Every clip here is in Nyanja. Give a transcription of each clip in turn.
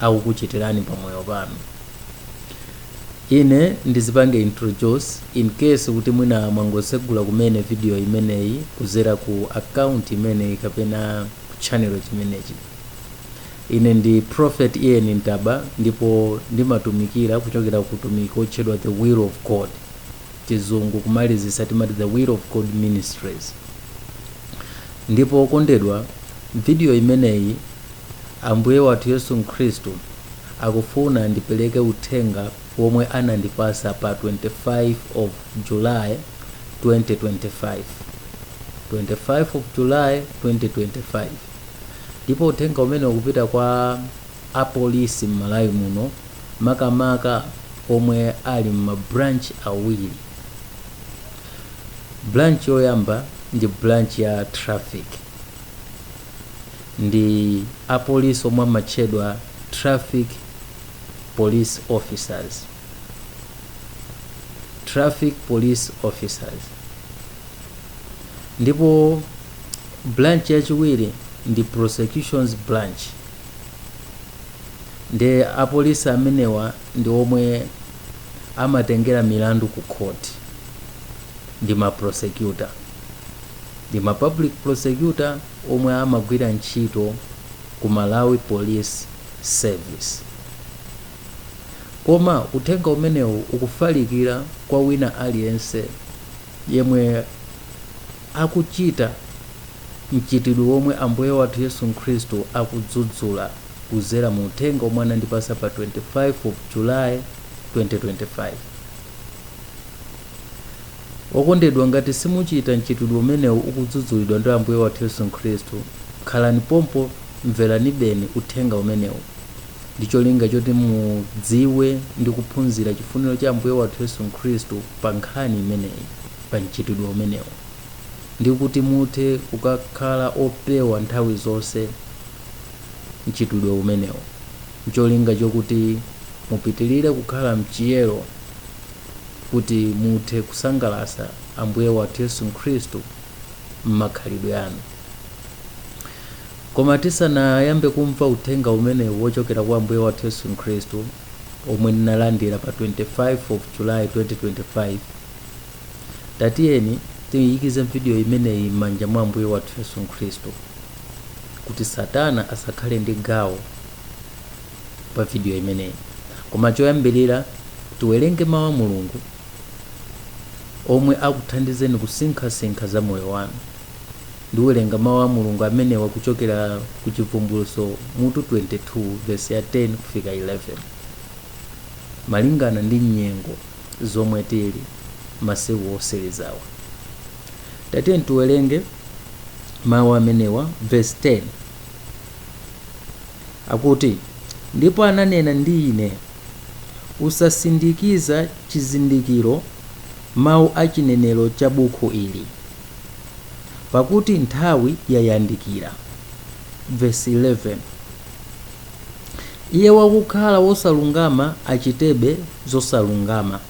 akukuchitirani pa moyo wanu ine ndizipange introduce in case kuti mwina mwangosegula kumene video imeneyi kuzera ku account imeneyi kapena channel chimenechi ine ndi prophet ian ntaba ndipo ndimatumikira kuchokera ku utumiki wotchedwa the will of god chizungu kumalizisa timati the will of god ministries ndipo okondedwa video imeneyi Ambuye wathu Yesu Khristu akufuna ndipereke uthenga womwe anandipasa pa 25 of July 2025 25 of July 2025 ndipo uthenga umene ukupita kwa apolisi m'Malawi muno makamaka omwe ali m'ma branch awiri branch yoyamba ndi branch ya traffic ndi apolisi omwe amatchedwa traffic police officers traffic police officers ndipo branch yachiwiri ndi prosecutions branch ndi apolisi amenewa ndi omwe amatengera milandu ku court ndi ma prosecutor ndi ma public prosecutor omwe amagwira ntchito ku malawi police service koma uthenga umenewu ukufalikira kwa wina aliyense yemwe akuchita mchitidwe womwe ambuye wathu yesu khristu akudzudzula kuzera mu uthenga omwe anandipasa pa 25 of july 2025 Okondedwa, ngati simuchita mchitidwe umenewu ukudzudzulidwa ndi Ambuye wathu Yesu Khristu, khalani pompo mveranibe uthenga umenewu ndi cholinga choti mudziwe ndi kuphunzira chifuniro cha Ambuye wathu Yesu Khristu pa nkhani imeneyi, pa mchitidwe umenewu, ndi kuti muthe kukakhala opewa nthawi zonse mchitidwe umenewu ncholinga chokuti mupitirire kukhala mchiyero. kuti muthe kusangalatsa Ambuye wathu Yesu Khristu m'makhalidwe anu. Koma tisanayambe kumva uthenga umenewu wochokera kwa Ambuye wathu Yesu Khristu omwe ndinalandira pa 25 of July 2025, tatiyeni tiyikize video imeneyi m'manja mwa Ambuye wathu Yesu Khristu kuti Satana asakhale ndi gawo pa vidiyo imeneyi koma choyambirira tiwerenge mawu a mulungu omwe akuthandizeni kusinkhasinkha za moyo wanu ndiwerenga mawu a mulungu amenewa kuchokera ku chivumbulutso mutu 22 vesi ya 10 kufika 11 malingana ndi nyengo zomwe tili masiku osirizawa tatiyeni tiwerenge mawu amenewa vesi 10 Akuti, Ndipo ananena ndi ine, Usasindikiza chizindikiro mawu a chinenero cha bukhu ili, pakuti nthawi yayandikira. Versi 11, Iye wakukhala wosalungama achitebe zosalungama,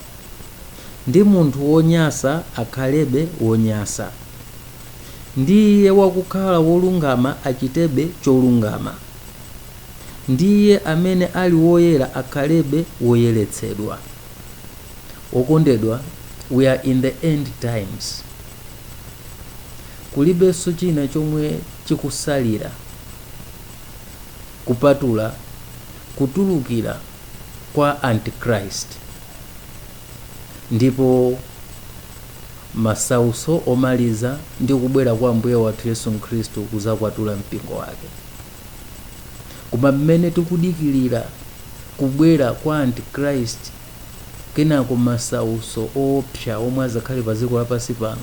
ndi munthu wonyasa akhalebe wonyasa. ndi iye wakukhala wolungama achitebe cholungama, ndi iye amene ali woyera akhalebe woyeretsedwa. Okondedwa, we are in the end times. Kulibenso china chomwe chikusalira kupatula kutulukira kwa Antichrist. ndipo masauso omaliza ndi kubwera kwa ambuye wathu yesu khristu kuzakwatula mpingo wake koma mmene tikudikilira kubwera kwa antichrist kenako masauso oopsa omwe azakhale pa dziko lapansi pano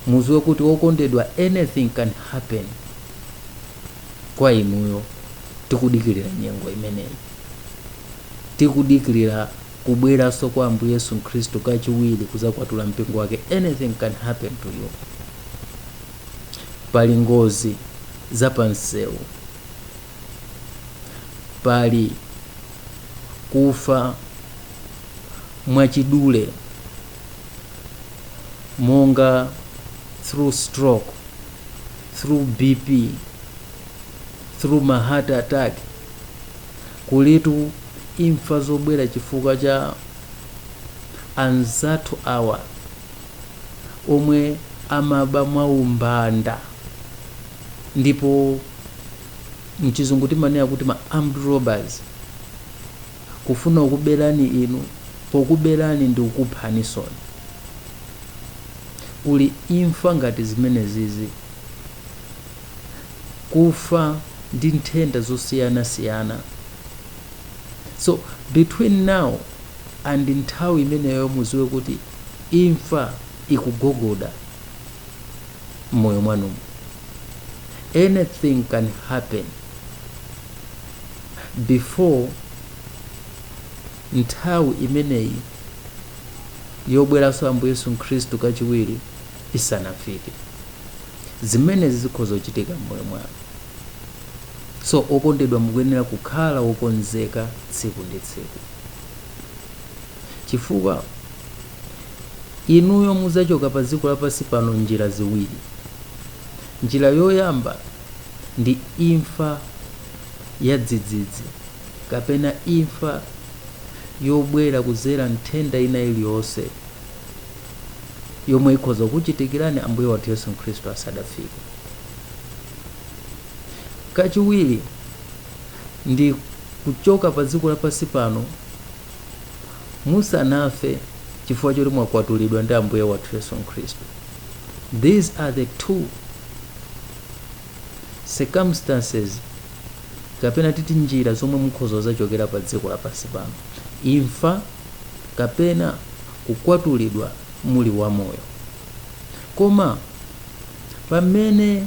muziwe kuti okondedwa anything can happen kwa inuyo tikudikirira nyengo imeneyi tikudikirira kubweranso kwa ambuye yesu khristu kachiwiri kuzakwatula mpingo wake anything can happen to you pali ngozi zapansewu pali kufa mwachidule monga through stroke through bp through ma heart attack kulitu imfa zobwera chifukwa cha anzathu awa omwe amaba mwaumbanda ndipo mchizungu timanena kuti ma armed robbers kufuna kukuberani inu pokuberani ndi kukuphaninsoni kuli imfa ngati zimenezizi kufa ndi nthenda zosiyanasiyana so between now and nthawi imeneyo muziwe kuti imfa ikugogoda mmoyo mwanumo anything can happen before nthawi imeneyi yobweranso ambuye yesu khristu kachiwiri isanafike zimenezi zikhoza kuchitika mmoyo mwanu so okondedwa mukuyenera kukhala wokonzeka tsiku ndi tsiku chifukwa Inuyo mudzachoka padziko lapansi pano m'njira ziwiri. Njira yoyamba ndi imfa yadzidzidzi kapena imfa yobwera kudzera m'nthenda ina iliyonse yomwe ikhoza kukuchitikirani Ambuye wathu Yesu Khristu asadafike. Kachiwiri ndi kuchoka padziko lapansi pano musanafe chifukwa choti mwakwatulidwa ndi ambuye wathu yesu khristu these are the two circumstances kapena titi njira zomwe mukhoza zachokera pa dziko lapansi pano imfa kapena kukwatulidwa muli wamoyo koma pamene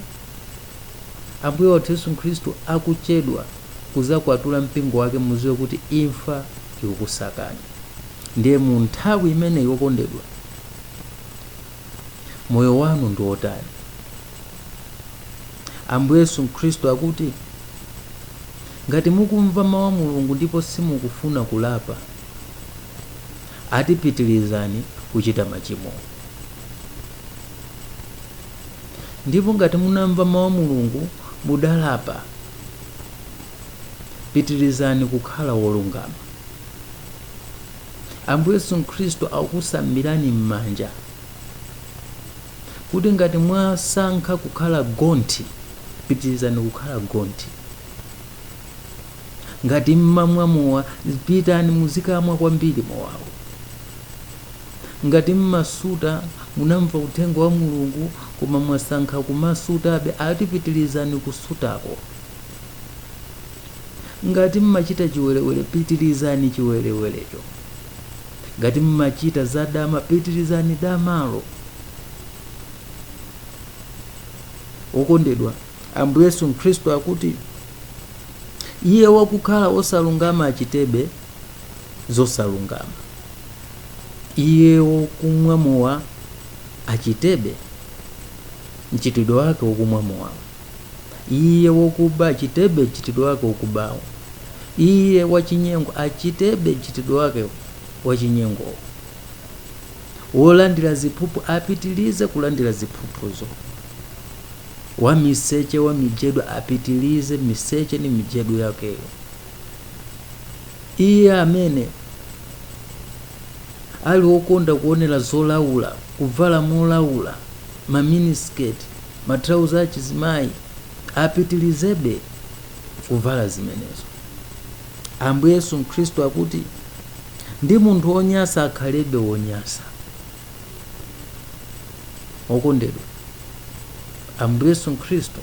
ambuye wathu yesu khristu akuchedwa kuzakwatula mpingo wake muziwe kuti imfa ikukusakani ndiye mu nthawi imeneyi wokondedwa moyo wanu ndi wotani ambuye yesu khristu akuti ngati mukumva mawu a mulungu ndipo simukufuna kulapa ati pitirizani kuchita machimo ndipo ngati munamva mawu a mulungu mudalapa pitirizani kukhala wolungama ambuye yesu khristu akusambirani m'manja kuti ngati mwasankha kukhala gonthi pitirizani kukhala gonthi ngati mmamwa mowa pitani muzikamwa kwambiri mowawo Ngati mmasuta, munamva uthenga wa Mulungu koma mwasankha kumasutabe ati pitilizani kusutako. Ngati mmachita chiwerewere pitilizani chiwerewerecho. Ngati mmachita za dama pitilizani damalo. Okondedwa, Ambuye Yesu Khristu akuti, Iye wakukhala osalungama achitebe, zosalungama iye wokumwa mowa achitebe mchitidwe wake wokumwa mowawo iye wokuba achitebe mchitidwe wake wokubawo iye wachinyengo achitebe mchitidwe wake wachinyengowo wolandira ziphuphu apitilize kulandira ziphuphuzo wamiseche wamijedo apitilize miseche ni mijedo yakeyo iye amene ali okonda kuonera zolaula kuvala molaula maminisiketi matrauza achizimayi apitirizebe kuvala zimenezo ambuye yesu khristu akuti ndi munthu wonyasa akhalebe wonyasa okondedwa ambuye yesu khristu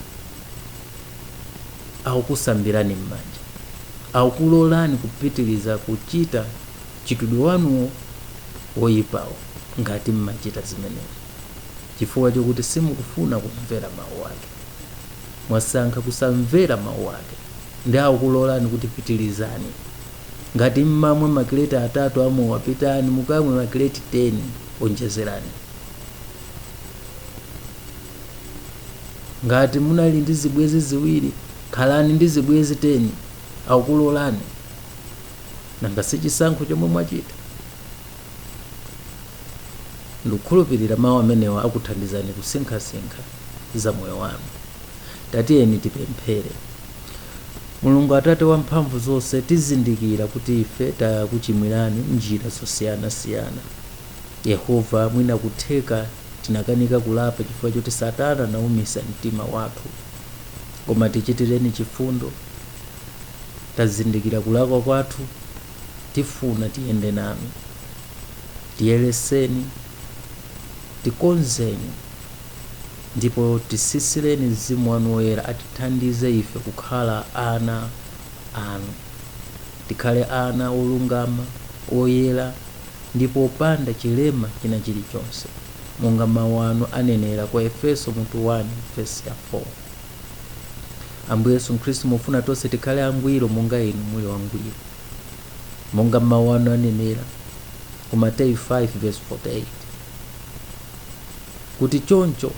akukusambirani m'manja akukulolani kupitiriza kuchita mchitidwe wanuwo woyipawo ngati mmachita zimenezo chifukwa chokuti simukufuna kumvera mawu ake mwasankha kusamvera mawu ake ndi akukulolani kuti pitirizani Ngati mmamwa ma crate atatu a mowa pitani mukamwe ma crate 10 onjezerani. Ngati munali ndi zibwenzi ziwiri khalani ndi zibwenzi 10 akukulolani. Nanga si chisankho chomwe mwachita? Ndikukhulupirira mawu amenewa akuthandizani kusinkhasinkha za moyo wanu. Tatiyeni tipemphere. Mulungu Atate wa mphamvu zonse, tizindikira kuti ife takuchimwirani m'njira zosiyanasiyana. Yehova, mwina kutheka tinakanika kulapa chifukwa choti Satana anaumitsa mtima wathu, koma tichitireni chifundo. Tazindikira kulakwa kwathu, tifuna tiyende nanu. Tiyeretseni, tikonzeni. Ndipo tisisireni Mzimu Wanu Woyera, atithandize ife kukhala ana Anu, tikhale ana olungama, oyera, ndipo opanda chilema china chirichonse, monga Mawu Anu anenera ku Aefeso mutu 1 vesi 4. Ambuye Yesu Khristu, mufuna tonse tikhale angwiro monga Inu muli wangwiro, monga Mawu Anu anenera ku Mateyu 5 vesi 48. kuti choncho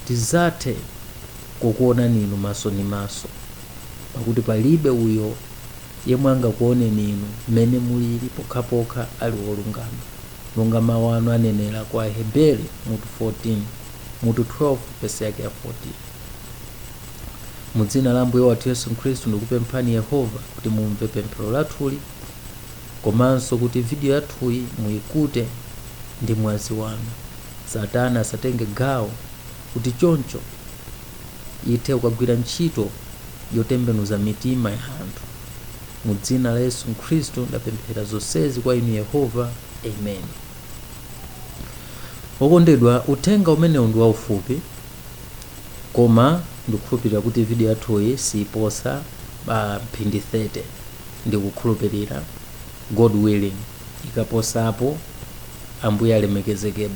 tidzathe kukuonani inu maso ndi maso pakuti palibe uyo yemwe angakuoneni inu mmene mulili pokhapokha ali wolungama monga mawu anu anenera kwa aheberi mutu 12 vesi yake ya 14 mu dzina la ambuye wathu yesu khristu ndikupemphani yehova kuti mumve pemphero lathuli komanso kuti video yathuyi muyikute ndi mwazi wanu. Satana asatenge gawo kuti choncho ithe kukagwira ntchito yotembenuza mitima ya anthu. Mu dzina la Yesu Khristu ndapemphera zonsezi kwa inu Yehova. Amen. Okondedwa, uthenga umenewu ndi waufupi koma ndikukhulupirira kuti video yathuyi siiposa pa mphindi 30 ndikukhulupirira god willing ikaposapo ambuye alemekezeke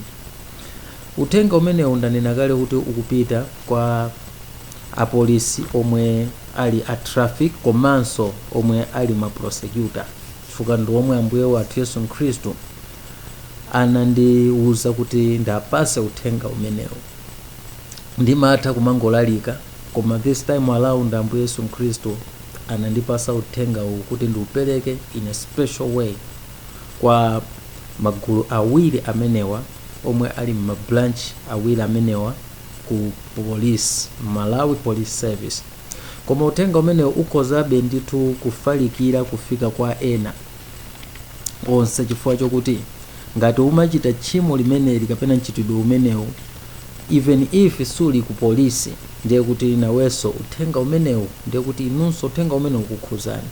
uthenga umenewu ndanena kale kuti ukupita kwa apolisi omwe ali a traffic komanso omwe ali ma prosecutor chifukwa ndi omwe ambuye wathu yesu khristu anandiwuza kuti ndiwapase uthenga umenewu ndimatha kumangolalika koma this time around ambuye yesu mkhristu anandipasa uthenga uwu kuti ndiupereke in a special way kwa magulu awiri amenewa omwe ali mabranch awiri amenewa ku police malawi police service koma uthenga umenewu ukhozabe ndithu kufalikira kufika kwa ena onse chifukwa chokuti ngati umachita tchimo limeneli kapena mchitidwe umenewu even if suli ku polisi ndiye kuti nawenso uthenga umenewu ndiye kuti inunso uthenga umenewu ukukhuzani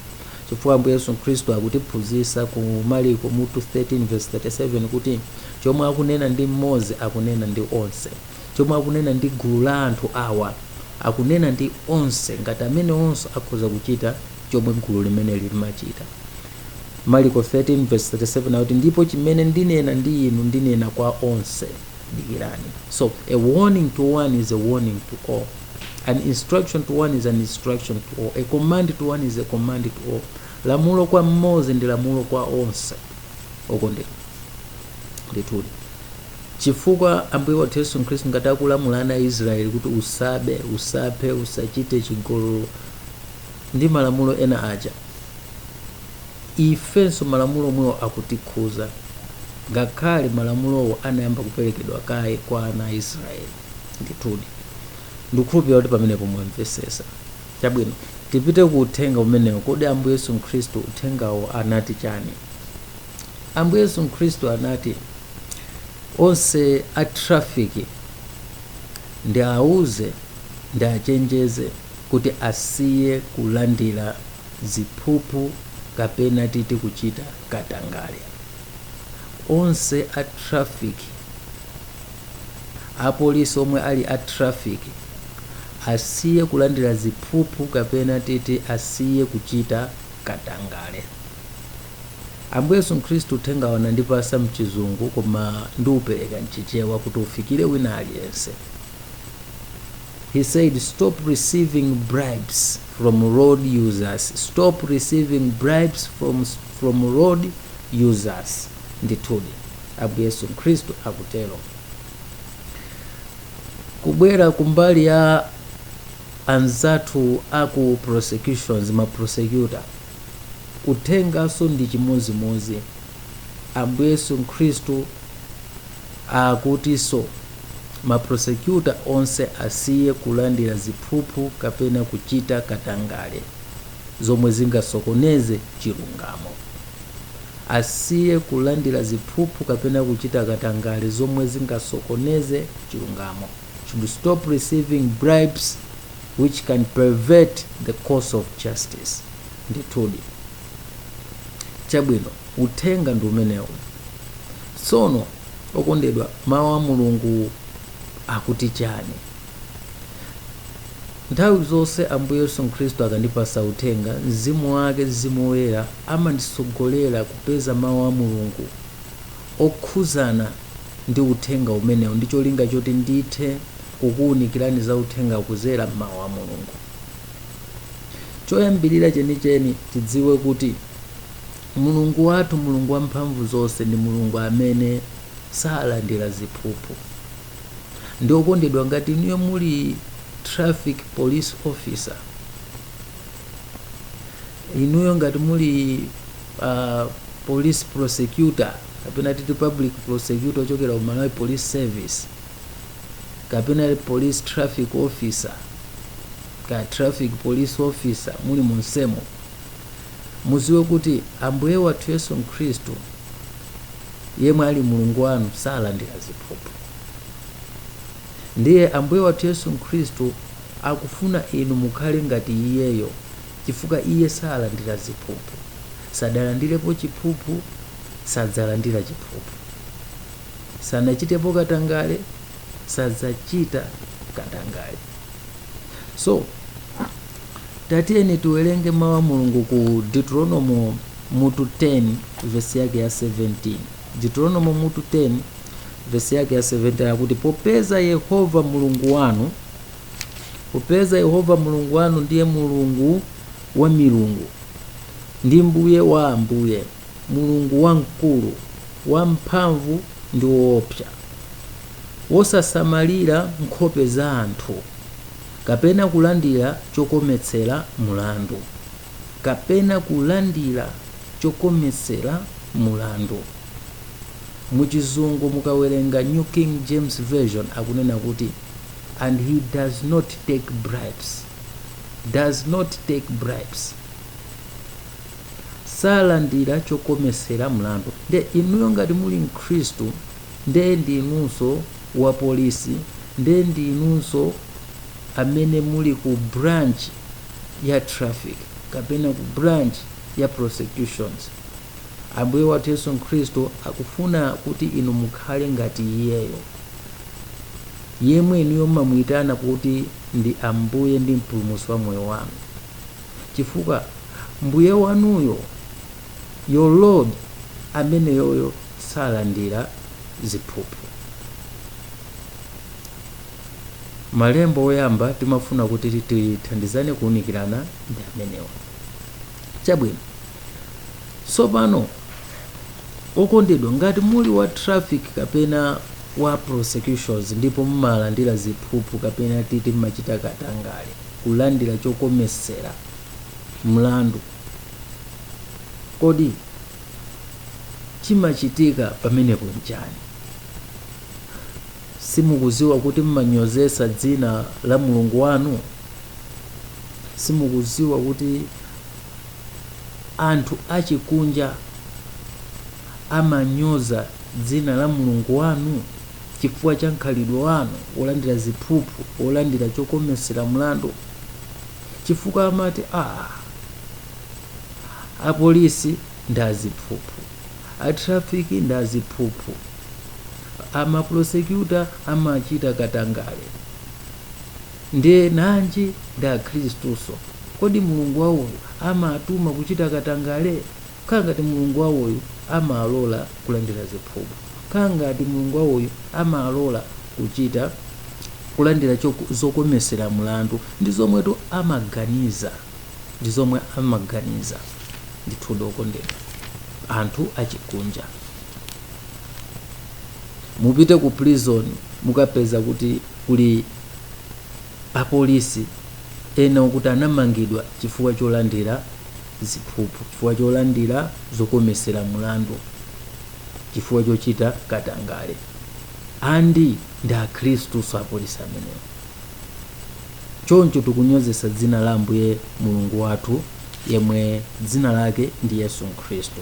chifukwa ambuye yesu khristu akutiphunzitsa ku maliko mutu 13 verse 37 kuti chomwe akunena ndi mmodzi akunena ndi onse chomwe akunena ndi gulu la anthu awa akunena ndi onse ngati amene onse akhoza kuchita chomwe gulu limeneli limachita mariko 13 verse 37 akuti ndipo chimene ndinena ndi inu ndinena kwa onse dikirani so a warning to one is a warning to all an instruction to one is an instruction to all a command to one is a command to all lamulo kwa mmodzi ndi lamulo kwa onse okondedwa ndithudi chifukwa ambuye wathu yesu khristu ngati akulamula ana a israeli kuti usabe usaphe usachite chigololo ndi malamulo ena aja ifenso malamulo omwewo akutikhuza ngakhale malamulowo anayamba kuperekedwa kaye kwa ana a israeli ndithudi ndikukhulupirira kuti pamenepo mwamvesesa chabwino tipite ku uthenga umenewo kodi ambuye yesu khristu uthengawo anati chani ambuye yesu khristu anati onse a trafiki ndi auze ndi achenjeze kuti asiye kulandira ziphuphu kapena titi kuchita katangale. Onse a traffic, apolisi omwe ali a traffic asiye kulandira ziphuphu kapena titi asiye kuchita katangale. Ambuye Yesu Khristu uthengawo anandipasa mchizungu koma ndiupereka mchichewa kuti ufikire wina aliyense. He said stop receiving bribes from road users. Stop receiving bribes from road users. Ndithudi Ambuye Yesu Khristu akutero. Kubwera kumbali ya anzathu aku prosecutions ma prosecutor uthengaso ndi chimozimozi Ambuye Yesu Khristu Akutiso ma prosecutor onse asiye kulandira ziphuphu kapena kuchita katangale zomwe zingasokoneze chilungamo. Asiye kulandira ziphuphu kapena kuchita katangale zomwe zingasokoneze chilungamo. Should stop receiving bribes which can pervert the course of justice. ndithudi chabwino uthenga ndi umenewu tsono okondedwa mawu a mulungu akuti chani nthawi zonse ambuye yesu khristu akandipasa uthenga mzimu wake mzimu woyera amandisogolera kupeza mawu a mulungu okhuzana ndi uthenga umenewu ndi cholinga choti ndithe kukuwunikirani za uthenga kuzera mmawu a mulungu choyambirira chenicheni tidziwe kuti mulungu wathu mulungu wamphamvu zonse ndi mulungu amene salandira ziphuphu nde okondedwa ngati inuyo muli traffic police officer inuyo ngati muli uh, police prosecutor kapena titi public prosecutor ochokera ku malawi police service kapena police traffic officer kaya traffic police officer muli mumsewumo muziwe kuti ambuye wathu yesu mkhristu yemwe ali mulungu wanu salandira ziphuphu ndiye ambuye wathu yesu mkhristu akufuna inu mukhale ngati iyeyo chifukwa iye salandira ziphuphu sadalandirepo chiphuphu sadzalandira chiphuphu sanachitepo katangale sadzachita katangale so tatiyeni tiwerenge mawu a mulungu ku deuteronomo mutu 10 vesi yake ya 17 deuteronomo mutu 10 vesi yake ya 17 akuti popeza yehova mulungu wanu popeza yehova mulungu wanu ndiye mulungu wa milungu ndi mbuye wa ambuye Mulungu wamkulu, wamphamvu ndi woopsa, wosasamalira nkhope za anthu, kapena kulandira chokometsera mlandu, kapena kulandira chokometsera mlandu. Mu chizungu mukawerenga New King James Version akunena kuti and he does not take bribes. Does not take bribes. salandira chokomesera mlandu nde inuyo ngati muli mkhristu nde ndi inunso wa police nde ndi inunso amene muli ku branch ya traffic kapena ku branch ya prosecutions ambuye wathu yesu mkhristu akufuna kuti inu mukhale ngati iyeyo yemwe inuyo mmamuitana kuti ndi ambuye ndi mpulumutsi wa moyo wanu chifukwa Mbuye wanuyo, your Lord, ameneyoyo salandira ziphuphu. Malembo oyamba timafuna kuti tithandizane kuunikirana ndi amenewa. Chabwino, tsopano okondedwa, ngati muli wa traffic kapena wa prosecutions ndipo mumalandira ziphuphu kapena titi mmachita katangale, kulandira chokometsera mlandu. Kodi chimachitika pamenepo nchani? Simukuziwa kuti mmanyozetsa dzina la Mulungu wanu? Simukuziwa kuti anthu achikunja amanyoza dzina la Mulungu wanu? chifukwa cha mkhalidwe wanu wolandira ziphuphu, wolandira chokometsera mlandu, chifukwa amati ah, apolisi ndi aziphuphu, atrafiki ndi aziphuphu, amaprosecutor amachita katangale, ndiye nanji ndi akhristuso. Kodi Mulungu wawoyo amatuma kuchita katangale? Kaa ngati Mulungu wawoyu amalola kulandira ziphuphu. Kaa ngati Mulungu wawoyu amalola kuchita kulandira zokomesera mlandu. Ndi zomwetu amaganiza. Ndi zomwe amaganiza. Ndithudi okondedwa, anthu achikunja. Mupite ku prison mukapeza kuti kuli apolisi ena okuti anamangidwa chifukwa cholandira ziphuphu chifukwa cholandira zokomesera mlandu chifukwa chochita katangale and ndi akhristuso apolisi amenewo choncho tikunyozesa dzina la ambuye mulungu wathu yemwe dzina lake ndi yesu khristu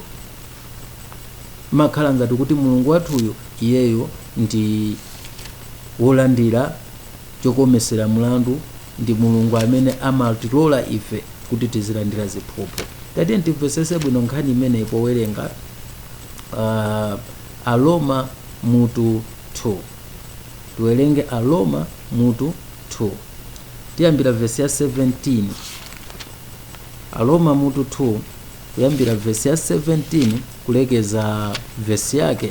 makhala ngati kuti mulungu wathuyu iyeyo ndi wolandira chokomesera mlandu ndi mulungu amene amatilola ife kuti tizilandira ziphuphu tatiyeni timvetsetse bwino nkhani imeneyi powerenga uh, aroma mutu 2 tiwerenge aroma mutu 2 tiyambira vesi ya 17 aroma mutu 2 kuyambira vesi ya 17 kulekeza vesi yake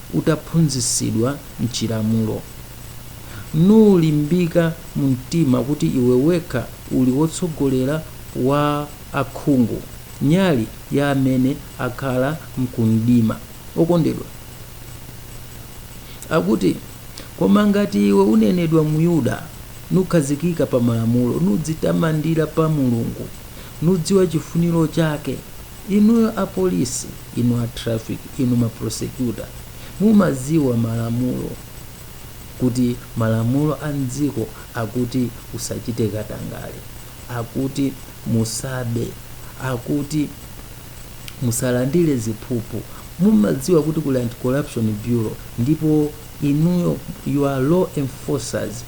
utaphunzitsidwa m'chilamulo, nulimbika mu mtima kuti iwe wekha uli wotsogolera wa akhungu, nyali ya amene akhala m'kumdima. Okondedwa akuti, Koma ngati iwe unenedwa Myuda, nukhazikika pa malamulo, nudzitamandira pa Mulungu, nudziwa chifuniro chake, Inuyo apolisi, inu a traffic, inu ma prosecutor mumaziwa malamulo kuti malamulo a mdziko akuti usachite katangale, akuti musabe, akuti musalandire ziphuphu, mumaziwa kuti kuli anti corruption bureau ndipo inuyo you are law enforcers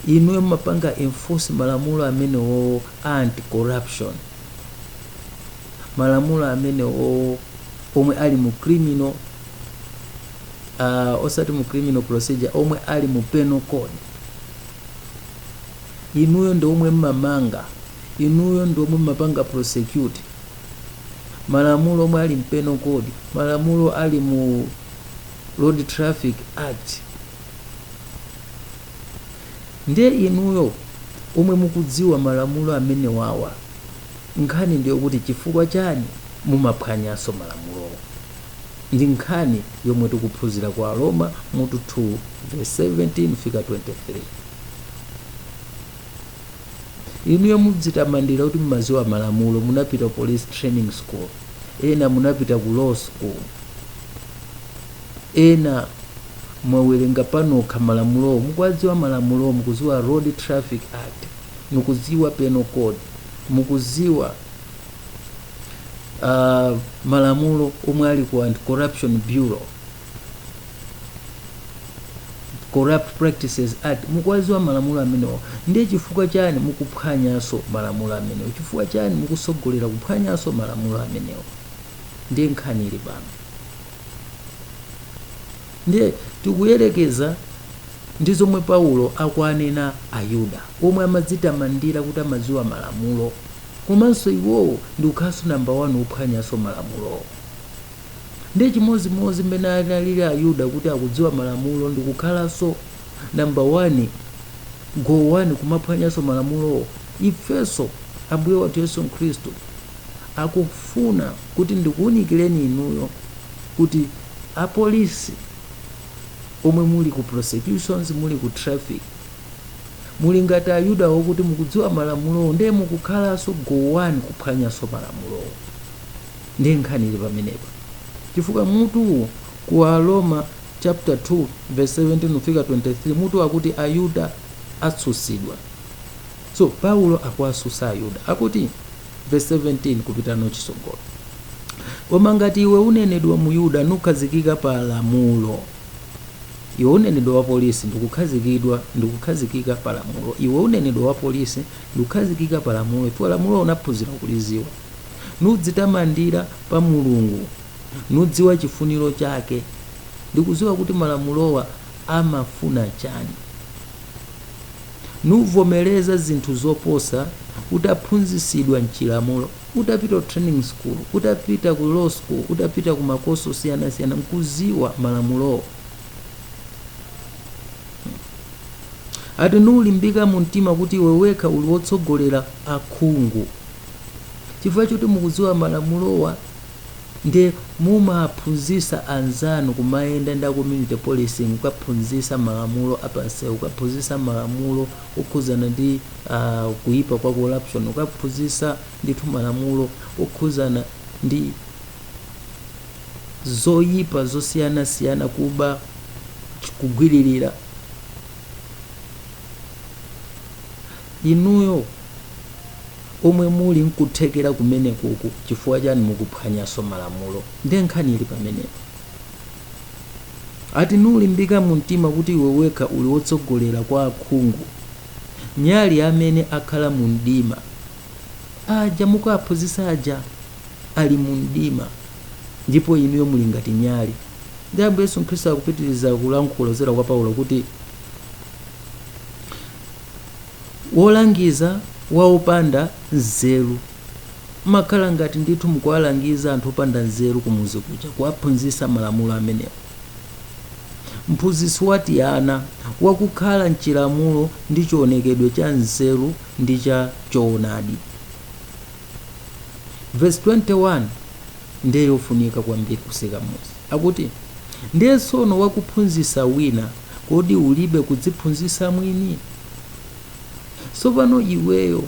inuyo mumapanga enforce malamulo amenewowo a anti corruption. malamulo amene o- omwe ali mu criminal uh, osati mu criminal procedure omwe ali mu penal code inuyo ndi omwe mmamanga inuyo ndi omwe mmapanga prosecute malamulo omwe ali m'penal code malamulo ali mu road traffic act Ndiye inuyo omwe mukudziwa malamulo amenewawa nkhani ndiyokuti chifukwa chani mumaphwanyanso malamulowo? Ndi nkhani yomwe tikuphunzira ku Aroma mutu 2 vesi 17 fika 23. Inuyo mudzitamandira kuti mumadziwa malamulo, munapita ku police training school, ena munapita ku law school. ena mwawerenga panokha malamulowo mukuwadziwa malamulowo mukuziwa road traffic act mukuziwa penal code mukuziwa uh, malamulo omwe ali ku anti corruption bureau corrupt practices act mukuwaziwa malamulo amenewo ndiye chifukwa chani mukuphwanyaso malamulo amenewo chifukwa chani mukusogolera kuphwanyaso malamulo amenewo ndiye nkhani ili pano ndiye tikuyerekeza ndi zomwe paulo akuwanena ayuda omwe amadzitamandira kuti amadziwa malamulo komanso iwowo ndikukhalanso namba wani ophwanyanso malamulowo ndiye chimodzimodzi mmene analili ayuda kuti akudziwa malamulo ndikukhalanso number one go one kumaphwanyanso malamulowo ifenso ambuye wathu yesu khristu akufuna kuti ndikuwunikireni inuyo kuti apolisi omwe muli ku prosecutions muli ku traffic muli ngati ayuda wokuti mukudziwa malamulowo ndiye mukukhalanso go one kuphwanyanso malamulowo ndiye nkhani ili pamenepa chifukwa mutuwu ku aroma chapter 2 vesi 17 kufika 23 mutu wakuti ayuda atsutsidwa so paulo akuwasusa ayuda akuti vesi 17 kupita nayo chisogolo koma ngati iwe unenedwa myuda nukhazikika pa lamulo iwe unenedwa wa polisi ndikukhazikidwa ndikukhazikika pa lamulo iwe unenedwa wa polisi ndikukhazikika pa lamulo chifukwa lamulo unaphunzira kuliziwa nudzitamandira pa mulungu nudziwa chifuniro chake ndikudziwa kuti malamulowa amafuna chani nuvomereza zinthu zoposa utaphunzisidwa mchilamulo utapita ku training school utapita ku law school utapita ku makosi osiyanasiyana nkuziwa malamulowo ati nulimbika mu mtima kuti iwe wekha uli wotsogolera akhungu chifukwa choti mukuziwa malamulowa nde mumaphunzisa anzanu kumayenda nda community policing kukaphunzisa malamulo apanseu kukaphunzisa malamulo okhuzana ndi uh, kuipa kwa corruption kukaphunzisa ndithu malamulo okhuzana ndi zoyipa zosiyanasiyana kuba kugwiririra inuyo omwe muli nkuthekera kumenekoku chifukwa chani mukuphwanyaso malamulo nde nkhani ili pamenepo ati nulimbika mumtima kuti iwe wekha uli wotsogolera kwa akhungu nyali ya amene akhala mu mdima aja mukuaphunzitsa aja ali mu mdima ndipo inuyo muli ngati nyali nde ambuye yesu khristu akupitiriza kulankhula kuzera kwa paulo kuti wolangiza wa opanda nzeru. Mmakhala ngati ndithu mukuwalangiza anthu opanda nzeru kumuzi kuja, kuwaphunzitsa malamulo amenewo. Mphunzitsi wa tiana wakukhala m'chilamulo ndi chionekedwe cha nzeru ndi cha choonadi. Vesi 21 ndiye yofunika kwambiri kutseka mudzi. Akuti, ndiwe tsono wakuphunzitsa wina Kodi ulibe kudziphunzitsa mwini? Tsopano iweyo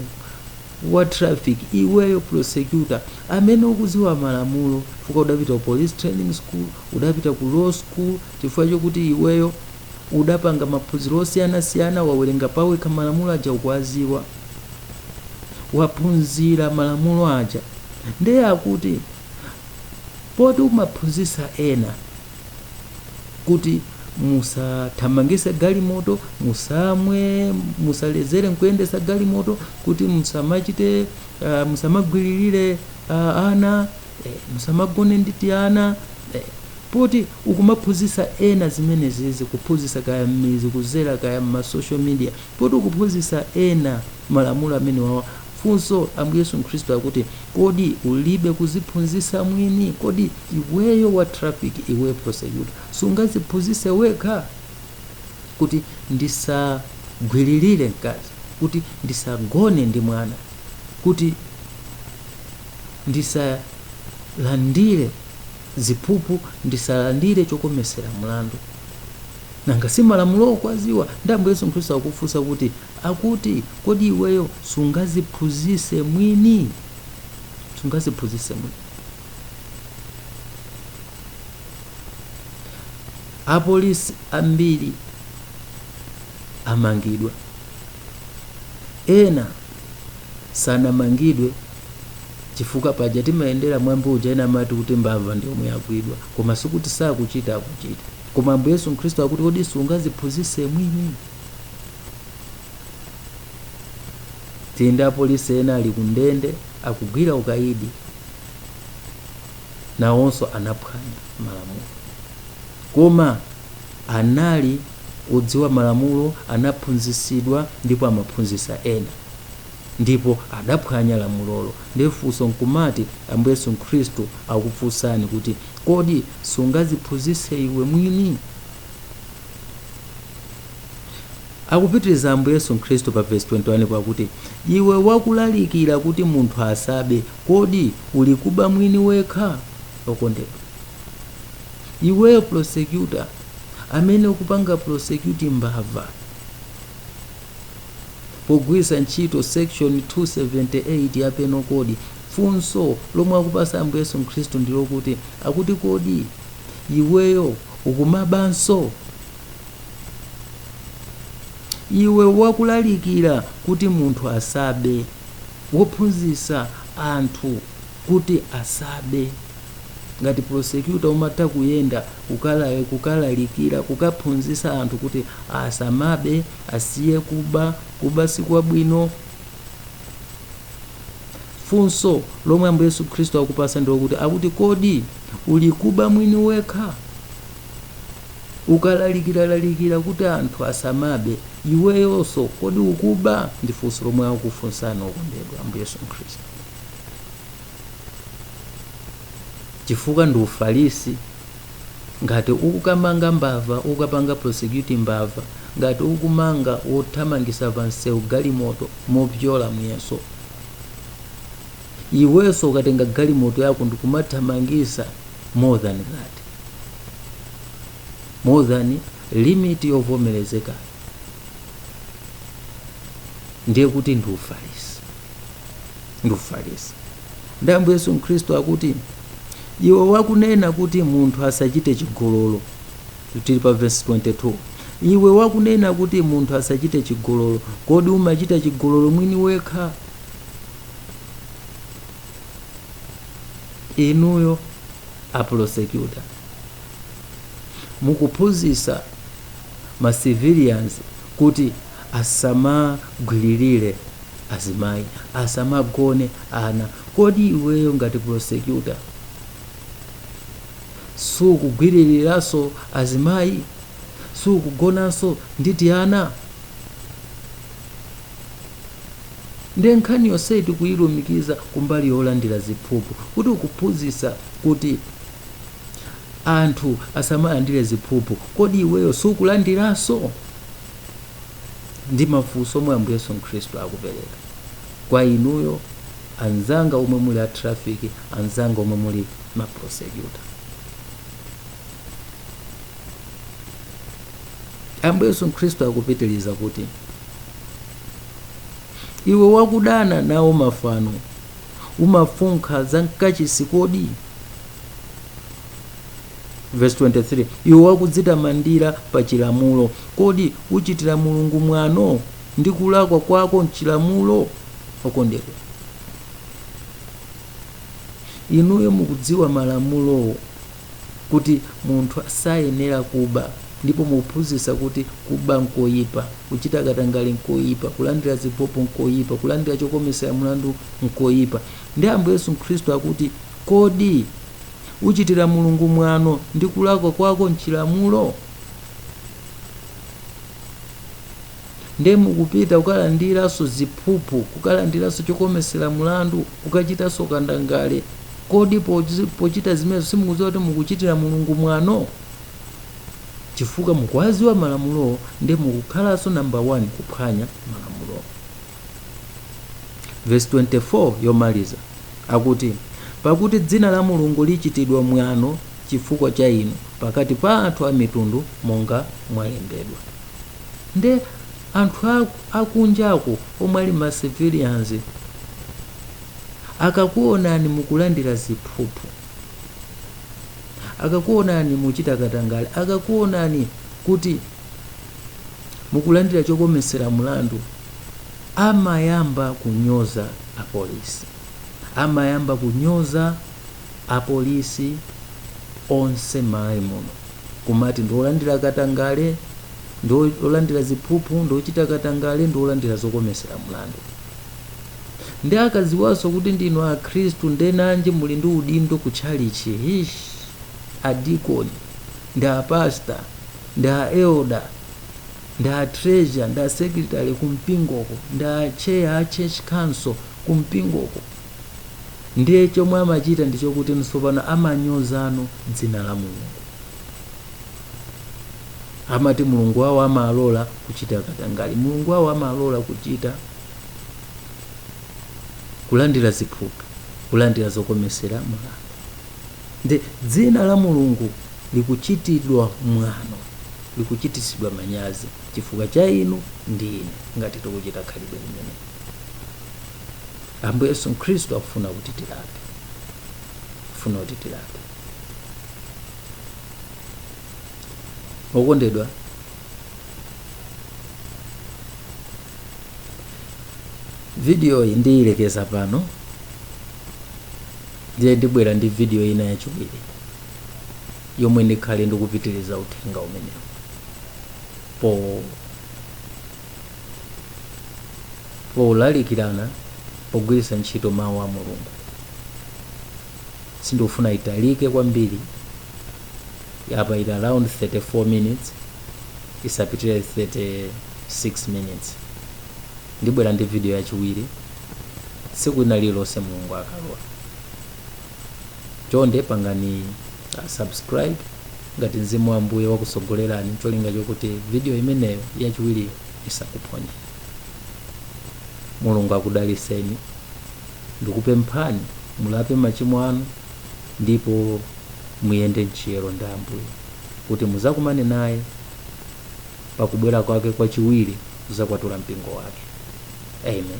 wa traffic, iweyo prosecutor, amene ukudziwa malamulo chifukwa udapita ku police training school, udapita ku law school, chifukwa chokuti iweyo udapanga maphunziro osiyanasiyana, wawerenga pawekha malamulo aja ukuwadziwa, waphunzira malamulo aja, ndiye akuti poti umaphunzitsa ena kuti musathamangise galimoto musamwe musalezere nkuyendesa galimoto kuti musamachite uh, musamagwiririre uh, ana eh, musamagone ndi tiana eh, poti ukumaphunzisa ena zimenezizi kuphunzisa kaya mmizi kuzera kaya mmasocial media poti ukuphunzisa ena malamulo amenewawa Funso, Ambuye Yesu Khristu akuti, kodi ulibe kuziphunzisa mwini? Kodi iweyo wa traffic iweyo prosecutor sungaziphunzise wekha? Kuti ndisagwiririre mkazi, kuti ndisagone ndi mwana, kuti ndisalandire ziphuphu, ndisalandire chokomesera mlandu. Nanga si malamulowo ukuwaziwa? Nde Ambuye Yesu Khristu akufunsa kuti akuti kodi iweyo sungaziphunzise mwini? Sungaziphunzise mwini. Apolisi ambiri amangidwa, ena sanamangidwe chifukwa paja timayendera mwambi uja ena amati kuti mbava ndi yomwe yagwidwa koma sikuti sakuchita akuchita Koma Ambuye Yesu Khristu akuti, Kodi sungaziphunzise mwini? Tili ndi apolisi ena ali ku ndende akugwira ukaidi, nawonso anaphwanya malamulo, koma anali odziwa malamulo, anaphunzisidwa ndipo amaphunzisa ena, ndipo adaphwanya lamulolo. Ndiye funso nkumati, Ambuye Yesu Khristu akufunsani kuti, Kodi sungaziphunzitse iwe mwini? Akupitiriza Ambuye Yesu Khristu pa vesi 21 akuti, Iwe wakulalikira kuti munthu asabe, kodi ulikuba mwini wekha? Okondedwa, iweyo prosecutor amene ukupanga prosecute mbava pogwiritsa ntchito section 278 ya penal code funso lomwe akupasa ambuye yesu khristu ndilokuti akuti kodi iweyo ukumabanso iwe wakulalikira kuti munthu asabe wophunzisa anthu kuti asabe ngati prosecutor umatha kuyenda kukalalikira kukaphunzisa anthu kuti asamabe Asiye kuba, kuba sikwabwino. Funso lomwe Ambuye Yesu Khristu akupasa ndi lokuti akuti kodi ulikuba mwini wekha? Ukalalikiralalikira kuti anthu asamabe, iweyonso kodi ukuba? Ndi funso lomwe akufunsani okondedwa Ambuye Yesu Khristu, chifukwa ndi ufarisi ngati ukukamanga mbava ukukapanga prosecute mbava ngati ukumanga wothamangisa pansewu galimoto mopyola muyeso iwenso ukatenga galimoto yako ndikumathamangisa more than that more than limit yovomerezeka ndiye kuti ndi ufarisi ndi ufarisi ndi ambuye yesu khristu akuti iwe wakunena kuti munthu asachite chigololo tili pa vesi 22 iwe wakunena kuti munthu asachite chigololo kodi umachita chigololo mwini wekha inuyo aprosecuta mukuphunzitsa ma civilians kuti asamagwililire azimayi, asamagone ana. Kodi iweyo ngati prosecutor sukugwililiranso azimayi? Sukugonanso ndi tiana? Nde nkhani yonseyi tikuyilumikiza kumbali yolandira ziphuphu kuti ukuphunzitsa kuti anthu asamalandire ziphuphu kodi iweyo sukulandiranso ndi mafunso omwe ambuye yesu khristu akupereka kwa inuyo anzanga omwe muli a traffic anzanga omwe muli ma prosecutor ambuye yesu khristu akupitiriza kuti iwe wakudana nawo mafano umafunkha za mkachisi kodi verse 23 iwe wakudzitamandira pa chilamulo kodi uchitira mulungu mwano ndi kulakwa kwako mchilamulo okondedwa inuyo mukudziwa malamulowo kuti munthu asayenera kuba ndipo mukuphunzitsa kuti kuba n'koipa, kuchita katangale n'koipa, kulandira ziphuphu n'koipa, kulandira chokometsera mlandu n'koipa. Ndiye Ambuye Yesu Khristu akuti, Kodi uchitira Mulungu mwano ndi kulakwa kwako m'chilamulo? Ndiye mukupita kukalandiranso ziphuphu, kukalandiranso chokometsera mlandu, kukachitanso katangale. Kodi pochita zimenezo simukudziwa kuti mukuchitira Mulungu mwano? Chifukwa mukuwadziwa malamulowo ndiye mukukhalanso namba 1 kuphwanya malamulowo. Verse 24 yomaliza akuti, pakuti dzina la Mulungu lichitidwa mwano chifukwa cha inu pakati pa anthu a mitundu monga mwalembedwa. nde anthu akunjako omwe ali ma civilians akakuonani mukulandira ziphuphu akakuonani muchita katangale akakuonani kuti mukulandira chokometsera mlandu amayamba kunyoza apolisi amayamba kunyoza apolisi onse m'malawi muno kumati ndi olandira katangale ndi olandira ziphuphu ndi ochita katangale ndi olandira zokomesera mlandu ndiye akaziwanso kuti ndinu akhristu ndenanji muli ndi udindo ku tchalichi hish adikoni ndi apasta ndi aelda ndi atreasure ndi asekretary kumpingoko ndi achair a church council kumpingoko ndiye chomwe amachita ndi chokuti tsopano amanyozano dzina la mulungu amati mulungu wawo amalola kuchita katangale mulungu wawo amalola kuchita kulandira ziphuphu kulandira zokomesera mlandu ndiye dzina la mulungu likuchitidwa mwano likuchitisidwa manyazi chifukwa cha inu ndi ine ngati tikuchita khalidwe limeneli Ambuye Yesu Khristu akufuna kuti tilape, akufuna kuti tilape. Okondedwa, vidiyoyi ndiyilekeza pano ndiye ndibwera ndi vidiyo ina yachiwiri yomwe ndikhale ndikupitiriza uthenga umenewu po polalikirana pogwiritsa ntchito mawu a mulungu sindikufuna italike kwambiri apa ili around 34 minutes isapitire 36 minutes ndibwera ndi video yachiwiri tsiku lina lililonse mulungu akalola chonde pangani uh, subscribe ngati mzimu wa ambuye wakusogolerani cholinga chokuti video imeneyo yachiwiriyo isakuphonyeni mulungu akudaliseni ndikupemphani mulape machimo anu ndipo muyende mchiyero ndi ambuye kuti muzakumane naye pakubwera kwake kwachiwiri kuzakwatula mpingo wake amen